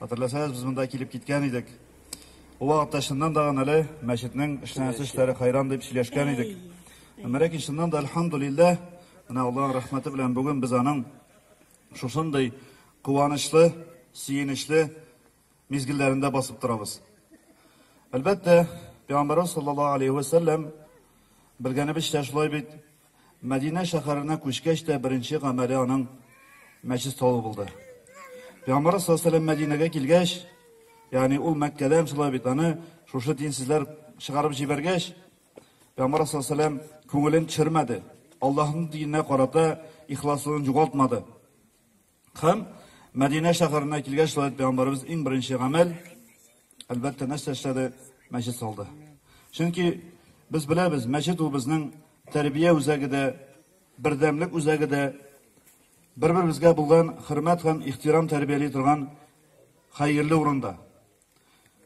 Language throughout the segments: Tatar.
Хәтерләсәгез, без монда килеп киткән идек. Ул вакытта чыннан да гамәле мәчетнең эшләнәсе эшләре хайран дип сөйләшкән идек. Әмма ләкин чыннан да альхамдулиллаһ, менә Аллаһның рәхмәте белән бүген без аның шушындый куанычлы, сөенечле мизгелләрендә басып торабыз. Әлбәттә, Пәйгамбәрбез саллаллаһу алейһи ва сәлләм белгәнебезчә шулай бит Мәдинә шәһәренә күчкәч тә беренче гамәле аның мәчет салу булды. Пәйгамбарыбыз саллаллаһу алейһи Мәдинәгә килгәч, ягъни ул Мәккәдән шулай бит аны шушы динсезләр чыгарып җибәргәч, Пәйгамбар саллаллаһу алейһи күңелен төшермәде. Аллаһның диненә карата ихласлыгын югалтмады. Һәм Мәдинә шәһәренә килгәч, шулай пәйгамбәребез иң беренче гамәл, әлбәттә, нәрсә эшләде? Мәчет салды. Чөнки без беләбез, мәчет ул безнең тәрбия үзәге дә, бердәмлек үзәге дә, бер-беребезгә булган хөрмәт һәм ихтирам тәрбияли торган хәерле урында.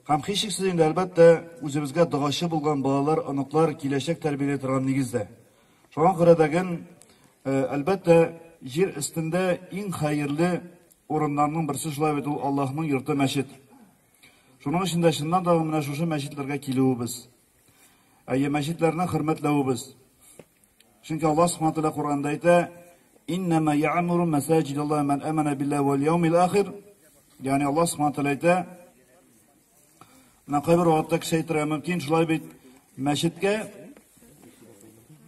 Һәм һичшиксез инде, әлбәттә, үзебезгә догачы булган балалар, оныклар, киләчәк тәрбияли торган нигездә. Шуңа күрә дә ген, әлбәттә, җир өстендә иң хәерле урыннарның берсе шулай бит ул Аллаһның йорты мәчет. Шуның өчен дә чыннан да менә шушы мәчетләргә килүебез, әйе, мәчетләрне хөрмәтләвебез, Чөнки Аллаһ Субхану тәгалә Коръәндә әйтә: "Иннама я'муру масаҗидаллаһи ман амана биллаһи вал яумил ахир". Ягъни Аллаһ Субхану тәгалә әйтә, менә кайбер вакытта кеше әйтергә мөмкин, шулай бит, мәчеткә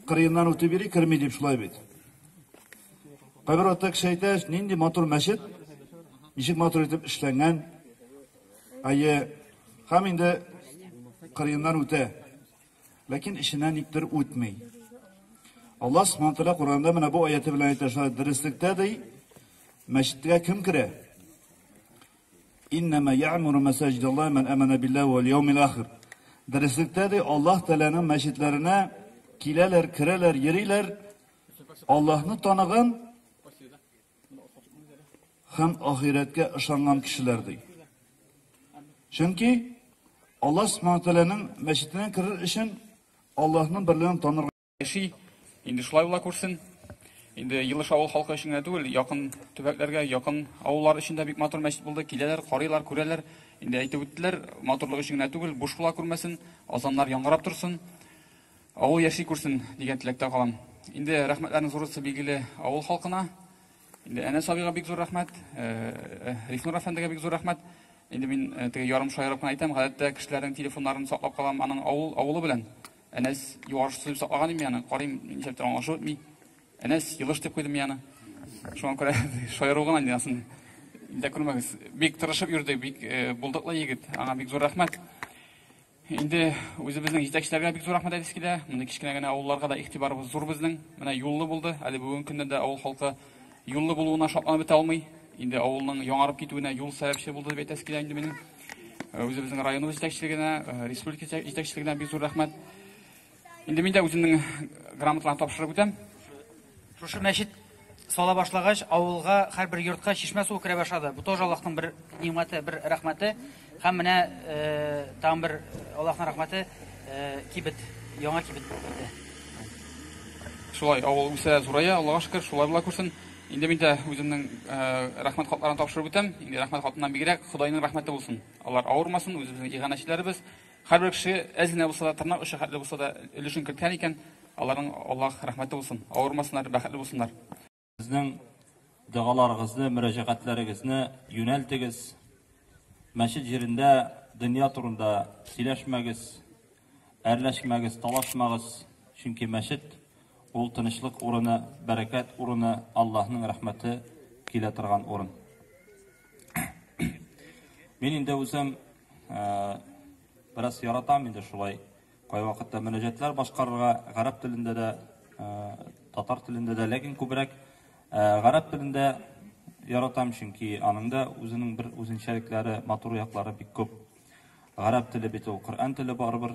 кырыеннан үтеп йөри, керми дип шулай бит. Кайбер вакытта кеше әйтә, нинди матур мәчет, ничек матур итеп эшләнгән. Әйе, һәм инде кырыеннан үтә. Ләкин эченә никтер үтми. Аллаһ Субхаһу Тәгалә Коръәндә менә бу аяте белән әйтә, шулай дөреслектә ди, мәчеткә кем керә? Иннама я'муру масаҗидаллаһи ман амана биллаһи вал яумил ахир. Дөреслектә ди, Аллаһ Тәгаләнең мәчетләренә киләләр, керәләр, йөриләр. Аллаһны таныган һәм ахирәткә ышанган кешеләр ди. Чөнки Аллаһ Субхану Тәгаләнең мәчетенә керер өчен Аллаһның берлеген танырга яши. Инде шулай була күрсен. Инде Елыш авыл халкы өчен генә түгел, якын төбәкләргә, якын авыллар өчен дә бик матур мәчет булды. Киләләр, карыйлар, күрәләр. Инде әйтеп үттеләр, матурлык өчен генә түгел, буш була күрмәсен, азаннар яңгырап торсын. Авыл яши күрсен, дигән теләктә калам. Инде рәхмәтләрнең зурысы билгеле авыл халкына. Инде Әнәс абыйга бик зур рәхмәт, Рифнур әфәндегә бик зур рәхмәт. Инде мин теге ярым шаярып кына әйтәм, гадәттә кешеләрнең телефоннарын саклап калам аның авыл авылы белән. Әнәс юарышчысы дип саклаган идем мин аны, карыйм, нишләптер аңлашып бетми. Әнәс, елыш дип куйдым мин аны. Шуңа күрә шаяру гына инде асын. Инде күрмәгез. Бик тырышып йөрде, бик булдыклы егет. Аңа бик зур рәхмәт. Инде үзебезнең җитәкчеләргә бик зур рәхмәт әйтәсе килә. Мондый кечкенә генә авылларга да игътибарыбыз зур безнең. Менә юллы булды. Әле бүгенге көннән дә авыл халкы юллы булуына шатланып бетә алмый. Инде авылның яңарып китүенә юл сәбәпче булды дип әйтәсе килә инде минем. Үзебезнең районыбыз җитәкчелегенә, республика җитәкчелегенә бик зур рәхмәт. Инде мин дә үземнең грамоталарны тапшырып үтәм. Шушы мәчет сала башлагач, авылга һәрбер йортка чишмә суы керә башлады. Бу тоже Аллаһның бер нимәте, бер рәхмәте. Һәм менә э, тагын бер Аллаһның рәхмәте э, кибет, яңа кибет булды. Шулай авыл үсә, зурая, Аллаһка шөкер, шулай була күрсен. Инде мин дә үземнең э, рәхмәт хатларын тапшырып үтәм. Инде рәхмәт хатыннан бигрәк Худайның рәхмәте булсын. Алар авырмасын, үзебезнең иганәчеләребез, Һәрбер кеше әз генә булса да, тырнак очы хәтле булса да өлешен керткән икән, аларның Аллаһ рәхмәте булсын, авырмасыннар, бәхетле булсыннар. Сезнең догаларыгызны, мөрәҗәгатьләрегезне юнәлтегез, мәчет җирендә дөнья турында сөйләшмәгез, әрләшмәгез, талашмагыз, чөнки мәчет, ул тынычлык урыны, бәрәкәт урыны, Аллаһның рәхмәте килә торган урын. Мин инде үзем э, бераз яратам инде шулай кайвакытта мөнәҗәтләр башкарырга гарәп телендә дә, э, татар телендә дә, ләкин күбрәк э, гарәп телендә яратам, чөнки аның да үзенең бер үзенчәлекләре, матур яклары бик күп. Гарәп теле бит ул Коръән теле барыбер.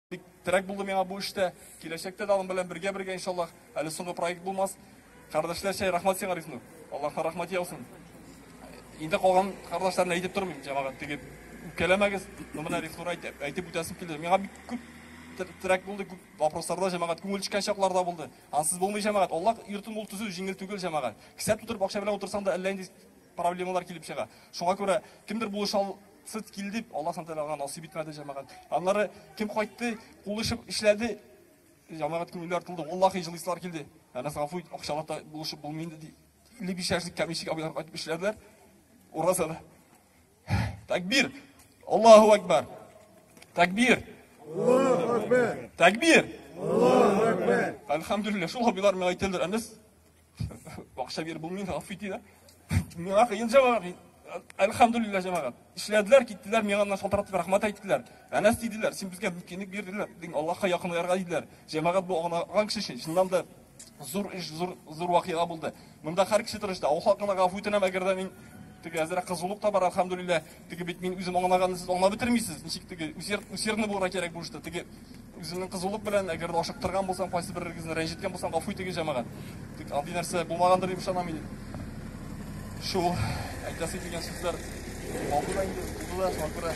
Бик терәк булды миңа бу эштә. Киләчәктә дә аның белән бергә бергә иншаллах. Әле соңгы проект булмас. Кардәшләрчә рәхмәт сиңа Рифнур. Аллаһка рәхмәт яусын. Инде калган кардәшләрне әйтеп тормыйм, җәмәгать тегеп. Үпкәләмәгез, ну менә Рифнур әйтеп, әйтеп үтәсем килде. Миңа бик күп терәк булды, күп вопросларда җәмәгать күңел төшкән чаклар да булды. Ансыз булмый җәмәгать. Аллаһ йортын ул төзү җиңел түгел җәмәгать. Кесә тутырып акча белән утырсаң да әллә инде проблемалар килеп чыга. Шуңа күрә кемдер булыша Сыт килде, Аллаһ Тәгалә аңа насыйп итмәде җәмәгать. Аннары кем кайтты, кул ишеп эшләде, җәмәгать күңеле артылды. Валлахи җылыслар килде. Әнәс гафу ит, акчалата булышып булмый инде ди. 55 яшьлек кәмишек абыйлар кайтып эшләделәр. Уразада. Тәкбир. Аллаһу акбар. Тәкбир. Аллаһу акбар. Тәкбир. Аллаһу акбар. Әлхәмдүлилләһ. Шул абыйлар миңа әйтәләр, Әнәс Бакча бир булмый, гафу итегез. Миңа кыен җавап. Әлхамдулилла җәмәгать. Эшләделәр, киттеләр, миңа аннан шалтыратып рәхмәт әйттеләр. Әнәс диделәр, син безгә мөмкинлек бирделәр, диң Аллаһка якынларга диделәр. Җәмәгать бу агынган кеше өчен чыннан да зур эш, зур зур вакыйга булды. Монда һәр кеше тырышты. Авыл халкына гафу үтенәм, әгәр дә мин теге әзрәк кызулык та бар, әлхамдулилла. Теге бит мин үзем аңлаганны сез аңлап бетермисез. Ничек теге усерд усердны булырга кирәк бу эштә. Теге үземнең кызулык белән әгәр дә ашыктырган булсам, кайсы берегезне рәнҗеткән булсам, гафу итегез җәмәгать. Тик андый нәрсә булмаганdır дип ышанам мин. Шул әйтәсе килгән сүзләр алды да инде, булды да, шуңа күрә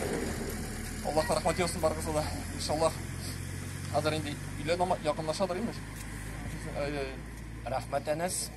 Аллаһка рәхмәт яусын барыгызга да. Иншаллах хәзер инде өйлә якынлашадыр инде. Рәхмәт, Әнәс.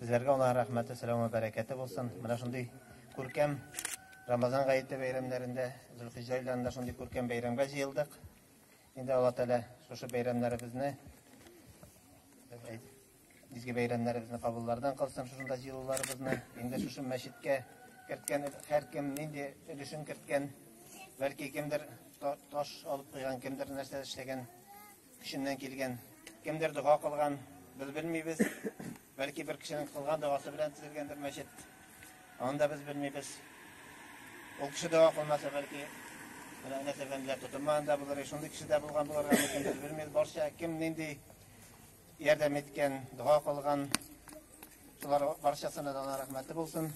Безләргә Аллаһ рәхмәте, сәламе, бәрәкәте булсын. Менә шундый күркәм Рамазан гаете бәйрәмнәрендә, Зөлхиҗҗә айларында шундый күркәм бәйрәмгә җыелдык. Инде Алла Тәгалә шушы бәйрәмнәребезне изге бәйрәмнәребезне кабуллардан кылсын шушында җыелуларыбызны. Инде шушы мәчеткә керткән һәркем нинди өлешен керткән, бәлки кемдер таш алып куйган, кемдер нәрсә эшләгән, Кешеннән килгән. Кемдер дога кылган, без белмибез. Бәлки бер кешенең кылган догасы белән төзелгәндер мәчет. Аны да без белмибез. Ул кеше дога кылмаса, бәлки менә нәсәбәндә тотылмаган да булыр, шундый кеше дә булган булырга мөмкин, без белмибез. Барча кем нинди ярдәм иткән, дога кылган, шулар барчасына да рәхмәте булсын.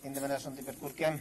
Инде менә шундый бер күркәм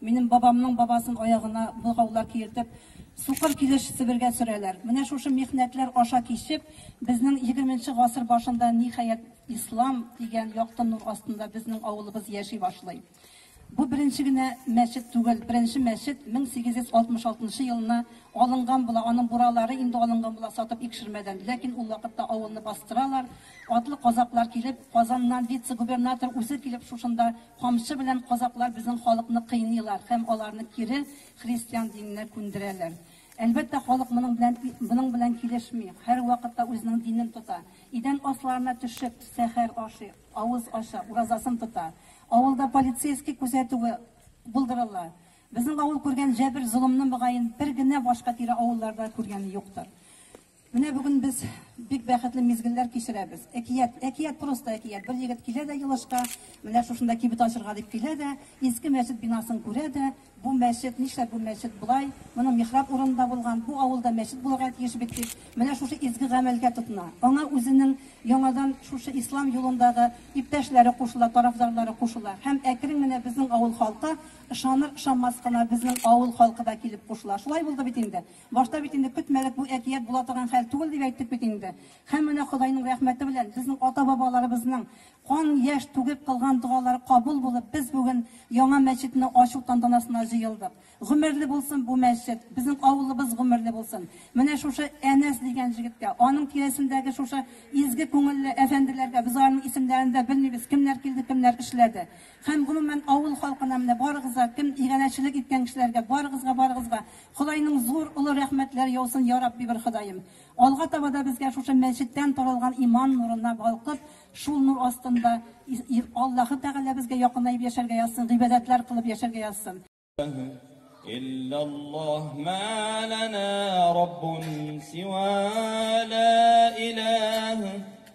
Минем бабамның бабасын аягына богаулар киертеп, сукыр килеш Себергә сөрәләр. Менә шушы михнәтләр аша кичеп, безнең егерменче гасыр башында, ниһаять, ислам дигән якты нур астында безнең авылыбыз яши башлый. Бу беренче генә мәчет түгел, беренче мәчет 1866 нчы елына алынган була, аның буралары инде алынган була сатып икшермәдән, ләкин ул вакытта авылны бастыралар, атлы казаклар килеп, Казаннан вице-губернатор үзе килеп шушында Камчы белән казаклар безнең халыкны кыйныйлар һәм аларны кире христиан диненә күндерәләр. Әлбәттә, халык моның белән моның белән килешми, һәрвакытта үзенең динен тота. Идән асларына төшеп, сәхәр ашый, авыз ача, уразасын тота. Авылда полицейский күзәтүе булдырыла. Безнең авыл күргән җәбер-золымны, мөгаен, бер генә башка тирә авылларда күргәне юктыр. Менә бүген без бик бәхетле мизгелләр кичерәбез. Әкият, әкият просто әкият. Бер егет килә дә Елышка, менә шушында кибет ачырга дип килә дә, иске мәчет бинасын күрә дә, бу мәчет, нишләп бу мәчет болай, моның михраб урыны да булган, бу авылда мәчет булырга тиеш бит дип, менә шушы изге гамәлгә тотына. Аңа үзенең яңадан шушы ислам юлындагы иптәшләре кушыла, тарафдарлары кушыла. Һәм әкрен генә безнең авыл халкы, ышаныр-ышанмас кына, безнең авыл халкы да килеп кушыла. Шулай булды бит инде. Башта бит инде көтмәдек бу әкият була торган хәл түгел дип әйттек бит инде. Һәм менә Ходайның рәхмәте белән, безнең ата-бабаларыбызның кан, яшь түгеп кылган догалары кабул булып, без бүген яңа мәчетне ачу тантанасына җыелдык. Гомерле булсын бу мәчет, безнең авылыбыз гомерле булсын. Менә шушы Әнәс дигән җегеткә, аның тирәсендәге шушы изге күңелле әфәнделәргә, без аларның исемнәрен дә белмибез, кемнәр килде, кемнәр эшләде. Һәм гомумән авыл халкына, менә барыгызга, кем иганәчелек иткән кешеләргә, барыгызга-барыгызга Ходайның зур олы рәхмәтләре яусын ярабби бер Ходаем! Алга таба да безгә шушы мәчеттән таралган иман нурына балкып, шул нур астында Аллаһы Тәгалә безгә якынаеп яшәргә язсын, гыйбадәтләр кылып яшәргә язсын! Иллаллаһ мә ләнә раббун сива лә иләһ.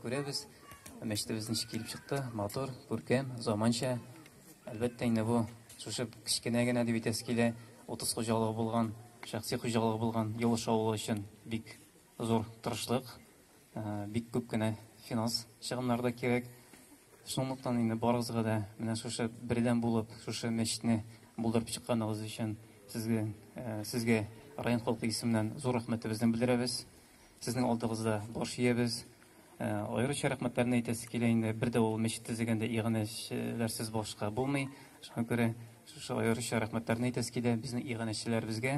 Күрәбез, мәчетебез ничек килеп чыкты, матур, күркәм, заманча. Әлбәттә инде бу шушы кечкенә генә дип әйтәсе килә, 30 хуҗалыгы булган, шәхси хуҗалыгы булган Юлыш авылы өчен бик зур тырышлык, э, бик күп кенә финанс чыгымнар да кирәк. Шунлыктан инде барыгызга да менә шушы бердәм булып, шушы мәчетне булдырып чыкканыгыз өчен сезгә, э, сезгә район халкы исеменнән зур рәхмәтебезне белдерәбез. Сезнең алдыгызда баш иябез. Аеруча рәхмәтләрне әйтәсе килә инде. Бер дә ул мәчет төзегәндә иганәчеләрсез башка булмый. Шуңа күрә шушы аеруча рәхмәтләрне әйтәсе килә безнең иганәчеләребезгә.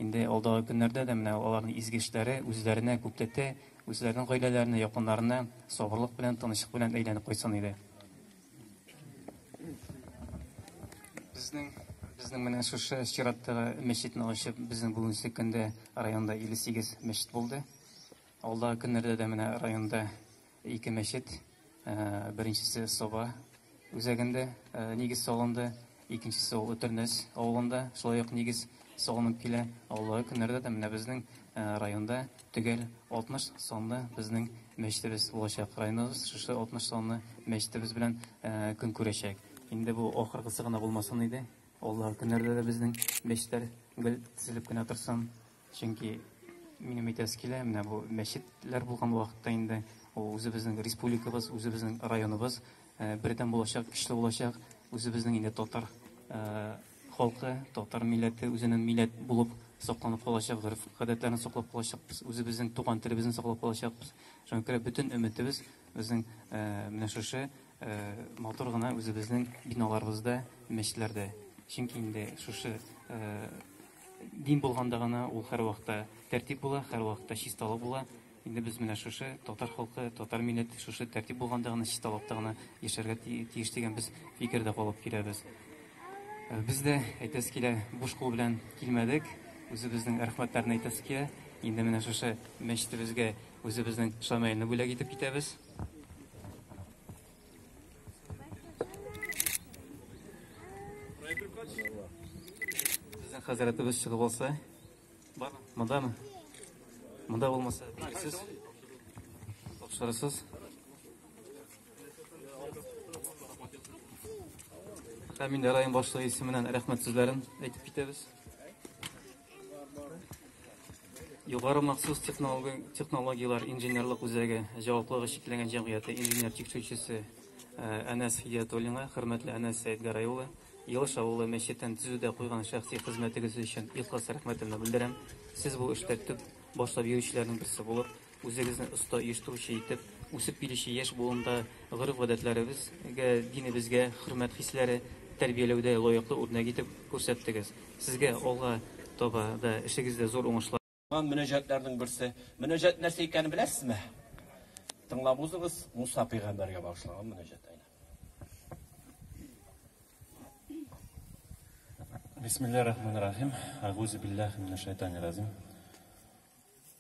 Инде алдагы көннәрдә дә менә аларның изге эшләре үзләренә күпләтә, үзләренең гаиләләренә, якыннарына сабырлык белән, тынычлык белән әйләнеп кайтсын иде. Безнең безнең менә шушы чираттагы мәчетне ачып, безнең бүгенге көндә районда 58 мәчет булды. Алдагы көннәрдә дә менә районда ике мәчет, беренчесе Соба үзәгендә нигез салынды. Икенчесе ул Өтернәс авылында шулай ук нигез салынып килә. Алдагы көннәрдә дә менә безнең э, районда төгәл 60 санлы безнең мәчетебез булачак. Районыбыз шушы 60 санлы мәчетебез белән э, көн күрәчәк. Инде бу ахыргысы гына булмасын иде. Алдагы көннәрдә дә безнең мәчетләр гел тезелеп кенә торсын. Чөнки минем әйтәсе килә, менә бу мәчетләр булган вакытта инде ул үзебезнең республикабыз, үзебезнең районыбыз э, бердәм булачак, көчле булачак, үзебезнең инде татар э, халкы, татар милләте үзенең милләт булып сакланып калачак, гореф гадәтләрен саклап калачакбыз, үзебезнең туган телебезне саклап калачакбыз. Шуңа күрә бөтен өметебез безнең э, менә шушы матур гына үзебезнең биналарыбызда, мәчетләрдә. Чөнки инде шушы Дин булганда гына ул һәрвакытта тәртип була, һәрвакытта чисталык була. Инде без менә шушы татар халкы, татар милләте шушы тәртип булганда гына, чисталыкта гына яшәргә тиеш дигән без фикердә калып киләбез. Э, без дә әйтәсе килә, буш кул белән килмәдек, үзебезнең рәхмәтләрне әйтәсе килә. Инде менә шушы мәчетебезгә үзебезнең шамаилне бүләк итеп китәбез. Сезнең хәзрәтебез чыгып алса, бар, мондамы? Монда булмаса, сез тапшырасыз. Һәм инде район башлыгы исеменнән рәхмәт сүзләрен әйтеп китәбез. Югары махсус технологияләр инженерлык үзәге җаваплылыгы чикләнгән җәмгыяте инженер тикшерүчесе Әнәс Хидиятуллинга, хөрмәтле Әнәс Сәетгәрәй улы, Елыш авылы мәчетен төзүдә куйган шәхси хезмәтегез өчен ихлас рәхмәтемне белдерәм. Сез бу эштә төп башлап йөрүчеләрнең берсе булып, Үзегезне оста оештыручы итеп, үсеп килүче яшь буында гореф-гадәтләребезгә, динебезгә хөрмәт хисләре тәрбияләүдә лаеклы үрнәк итеп күрсәттегез. Сезгә алга таба да эшегездә зур уңышлар! Узган мөнәҗәтләрнең берсе. Мөнәҗәт нәрсә икәнен беләсезме? Тыңлап узыгыз, Муса пәйгамбәргә багышланган мөнәҗәт әнә. Бисмиллаһ рахманир рахим. Әгузу биллаһи минәш шәйтанир разим.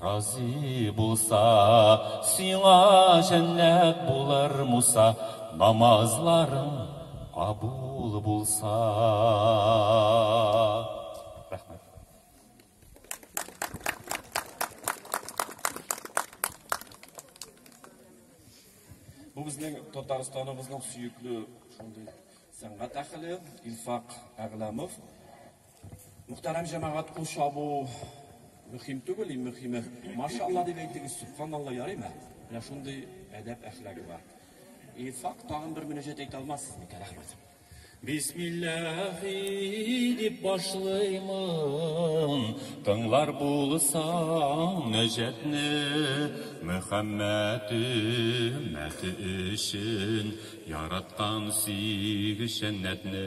Разый булса, сиңа җәннәт булыр, Муса, намазларың кабул булса. Рәхмәт. Бу безнең Татарстаныбызның сөекле шундый сәнгать әхеле Илфак Әгъләмов. Мөхтәрәм җәмәгать, кул чабу мөһим түгел, иң мөһиме, машалла дип әйтегез, субханалла ярыймы? Менә шундый әдәп әхлагы бар. И фак тагын бер мөнәҗәт әйтә алмассыз микән, рәхмәт. Бисмиллахи дип башлыймын, тыңлар булсаң нәҗәтне, Мөхәммәд өммәте өчен яраткан сиг җәннәтне.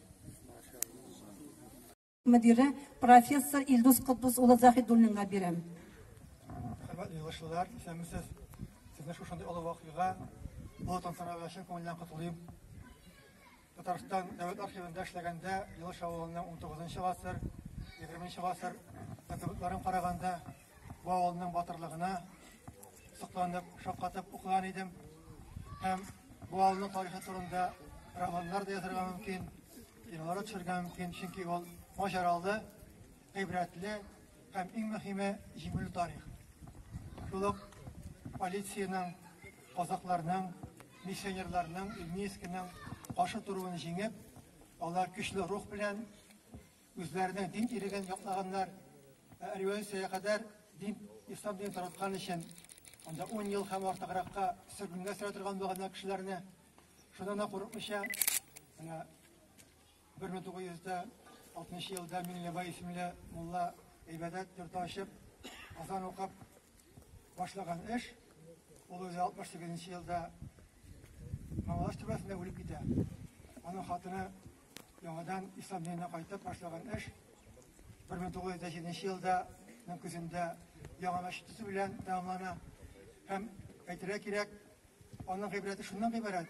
мөдире профессор Илдус Котбус улы Заһидуллинга бирәм. Хөрмәтле юлдашлар, исәнмесез. Сезне шушындый олы вакыйга бу тантанага чын күңелдән котлыйм. Татарстан дәүләт архивында эшләгәндә Юлыш авылының 19 нчы гасыр, 20 нчы гасыр документларын караганда Бу авылның батырлыгына сокланып, шаккатып укыган идем. Һәм бу авылның тарихы турында романнар да язырга мөмкин, кинолар төшерергә мөмкин, чөнки ул маҗаралы, гыйбрәтле һәм иң мөһиме җиңүле тарих. Шул ук полициянең, казакларның, миссионерларның, Ильмийскиның каршы торуын җиңеп, алар көчле рух белән Үзләренең дин иреген яклаганнар, ә революциягә кадәр дин, ислам динен тараткан өчен, анда ун ел һәм артыгракка сөргенгә сөрә торган булганнар кешеләрне, шуннан да курыкмыйча, менә 1960 елда Миңлебай исемле мулла гыйбадәт йорты ачып, азан укып башлаган эш, ул үзе 68 елда Мамалаш түрбәсендә үлеп китә. Аның хатыны Яңадан ислам диненә кайтып башлаган эш 1907 елда ның көзендә яңа мәчет төзү белән тәмамлана. Һәм әйтергә кирәк, аның гыйбрәте шуннан гыйбарәт.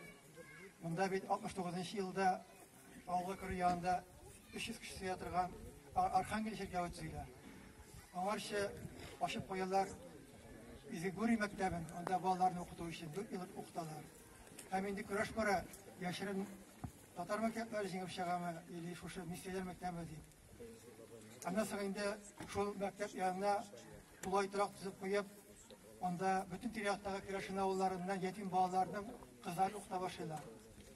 Монда бит 69 елда авылга керү янында 300 кеше сыя торган Архангел чиркәве төзелә. Аңарчы ачып куялар Изегури мәктәбен, анда балаларны укыту өчен 4 ел укыталар. Һәм инде көрәш бара, яшерен Татар мәктәпләре җиңеп чыгамы или шушы миссияләр мәктәбе дип. Аннан соң инде шул мәктәп янына тулай торак төзеп куеп, анда бөтен тирә-яктагы керәшен авылларыннан ятим балаларның кызларын укыта башлыйлар.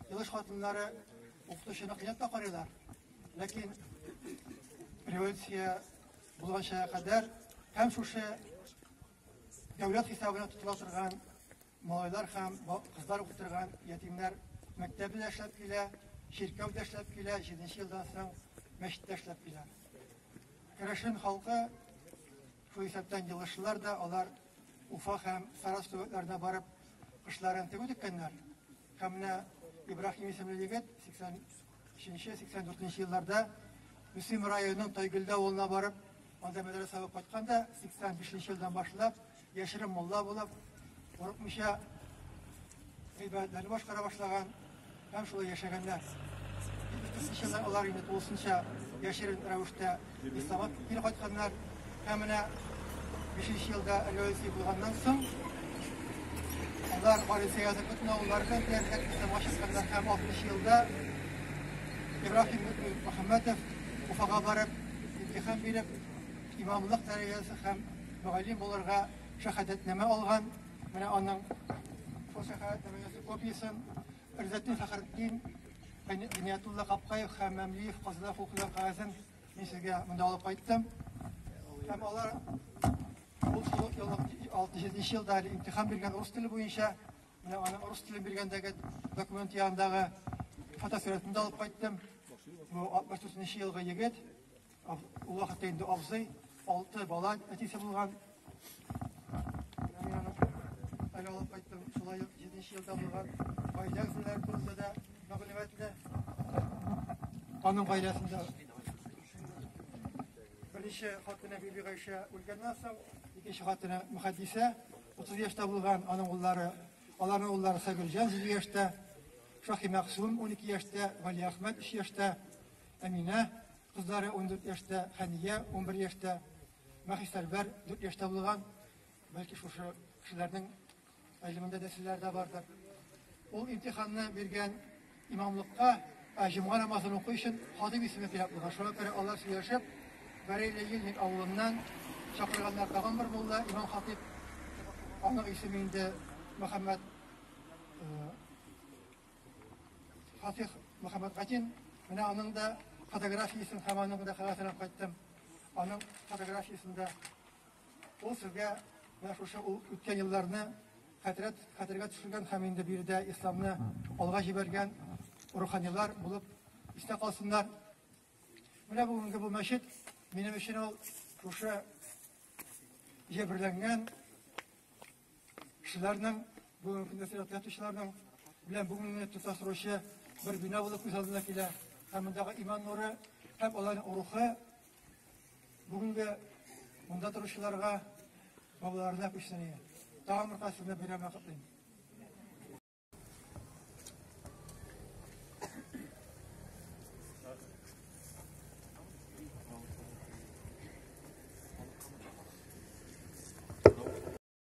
Елыш хатыннары укытучыны кыйнап карыйлар. Ләкин революция булганча кадәр һәм шушы дәүләт хисабына тотыла торган Малайлар һәм кызлар укый торган ятимнәр мәктәбе дә эшләп килә, чиркәү дә эшләп килә, җиденче елдан соң мәчет тә эшләп килә. Керәшен халкы, шул исәптән елышлылар да, алар Уфа һәм Сарас төбәкләренә барып, кышларын тегү теккәннәр. Һәм менә Ибраһим исемле егет, 80 80-84 нче елларда Мөслим районының Тайгөлдә авылына барып, анда мәдрәсә укып кайтканда, 85 нче елдан башлап, яшерен мулла булып, курыкмыйча гыйбадәтләрне башкара башлаган һәм шулай яшәгәннәр. 70 нче еллар алар инде тулысынча яшерен рәвештә Исламга кире кайтканнар һәм менә бишенче елда революция булганнан соң алар полиция язып бөтен авыллар белән диярлек исламга чыкканнар һәм алтмыш елда Ибраһим Мөхәммәтов Уфага барып имтихан биреп имамлык дәрәҗәсе һәм мөгаллим булырга шәһадәтнамә алган. Менә аның шул шәһадәтнамәсе копиясен Ризатдин Фәхретдин, Гыйниятулла Капкаев һәм Мәмлиев казыда хокуклар кагазен мин сезгә монда алып кайттым. Һәм алар ул шул ел 67 елда имтихан биргән рус теле буенча менә аны рус телен биргәндәге документ янындагы фотосурәтен дә алып кайттым. Бу 64 елгы егет Ул вакытта инде абзый алты бала әтисе булган. Әле алып кайттым, шулай ук җиденче елда булган гаилә әгъзалары турында да мәгълүматлы. Аның гаиләсендә беренче хатыны Биби Гайшә үлгәннән соң, икенче хатыны Мөхәддисә 30 яшьтә булган, аның уллары, аларның уллары Сагырҗан 7 яшьтә, Шахи Мәхсүм 12 яшьтә, Гали Әхмәт 3 яшьтә, Әминә, кызлары ундүрт яшьтә, Хәния, унбер яшьтә, Мәхисәрвәр, дүрт яшьтә булган. Бәлки шушы кешеләрнең гыйлемендә дә серләр дә бардыр. Ул имтиханны биргән имамлыкка җомга намазын уку өчен хатип исеме кирәк булган. Шуңа күрә алар сөйләшеп, Бәрәйле Ельник авылыннан чакырганнар тагын бер мулла, имам хатип. Аның исеме инде Мөхәммәд Фатих Мөхәммәтгатин, менә аның да фотографиясен һәм аның да хәләтенә кайттым. Аның фотографиясендә ул сезгә менә шушы ул үткән елларны хәтерәт хәтергә төшергән һәм инде биредә исламны алга җибәргән руханилар булып истә калсыннар. Менә бүгенге бу мәчет минем өчен ул шушы җәберләнгән Кешеләрнең, бу мөкатдәс иҗат ятучыларның белән бу мине тоташтыручы бер бина булып күз алдына килә. Һәм мондагы иман нуры һәм аларның рухы бүгенге монда торучыларга, балаларына күчсен. Тагын бер кат сезне бәйрәмгә котлыйм.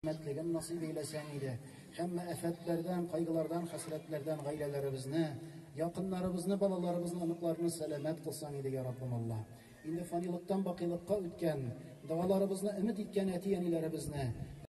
Мәтлеген насыйп әйләсәң иде. Һәммә афәтләрдән, кайгылардан, хәсрәтләрдән гаиләләребезне, якыннарыбызны, балаларыбызны, оныкларны сәламәт кылсаң иде, я Раббым Алла. Инде фанилыктан бакыйлыкка үткән, догаларыбызны өмет иткән әти-әниләребезне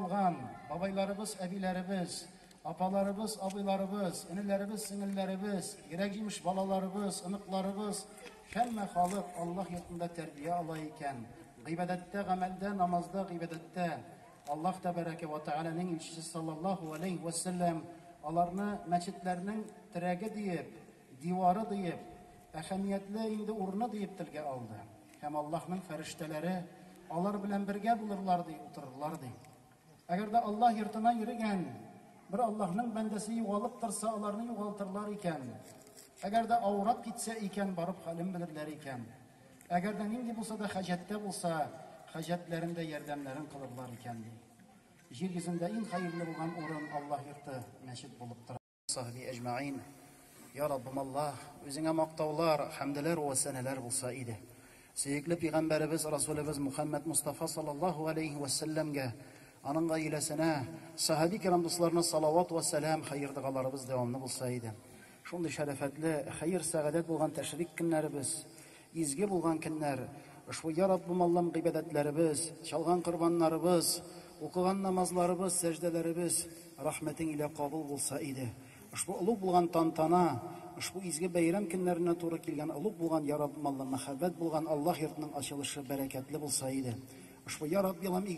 Алган бабайларыбыз, әбиләребез, апаларыбыз, абыйларыбыз, энеләребез, сеңелләребез, йөрәк җимеш балаларыбыз, оныкларыбыз, һәммә халык Аллаһ йортында тәрбия ала икән. Гыйбадәттә, гамәлдә, намазда, гыйбадәттә Аллаһ тәбәрәкә ва тәгаләнең илчесе саллаллаһу алейһи ва саллям аларны мәчетләрнең терәге диеп Дивары диеп, әһәмиятле инде урыны диеп телгә алды. Һәм Аллаһның фәрештәләре алар белән бергә булырлар, ди, утырырлар, ди. Әгәр дә Аллаһ йортына йөрегән бер Аллаһның бәндәсе югалып торса, аларны югалтырлар икән. Әгәр дә авырап китсә икән, барып хәлен белерләр икән. Әгәр дә нинди булса да хаҗәттә булса, хаҗәтләрендә ярдәмнәрен кылырлар икән, ди. Җир йөзендә иң хәерле булган урын Аллаһ йорты, мәчет булып тора. Сахби әҗмәин. Я Раббым Аллаһ, үзеңә мактаулар, хәмдәләр вә сәнәләр булса иде. Сөекле пәйгамбәребез Расулебез Мухаммад Мустафа саллаллаһу алейхи вә сәлләмгә, аның гаиләсенә, сахаби кирам дусларына салават вә сәлам, хәер догаларыбыз дәвамлы булса иде. Шундый шәрәфәтле, хәер-сәгадәт булган тәшрик көннәребез Изге булган көннәр, ошбу Йа Раббым Аллам гыйбадәтләребез, чалган корбаннарыбыз, укыган намазларыбыз, сәҗдәләребез Рәхмәтең илә кабул булса иде. Ошбу олуг булган тантана, ошбу изге бәйрәм көннәренә туры килгән олуг булган Йа Раббым Аллам мәхәббәт булган Аллаһ йортының ачылышы бәрәкәтле булса иде. Ошбу Йа Раббиалам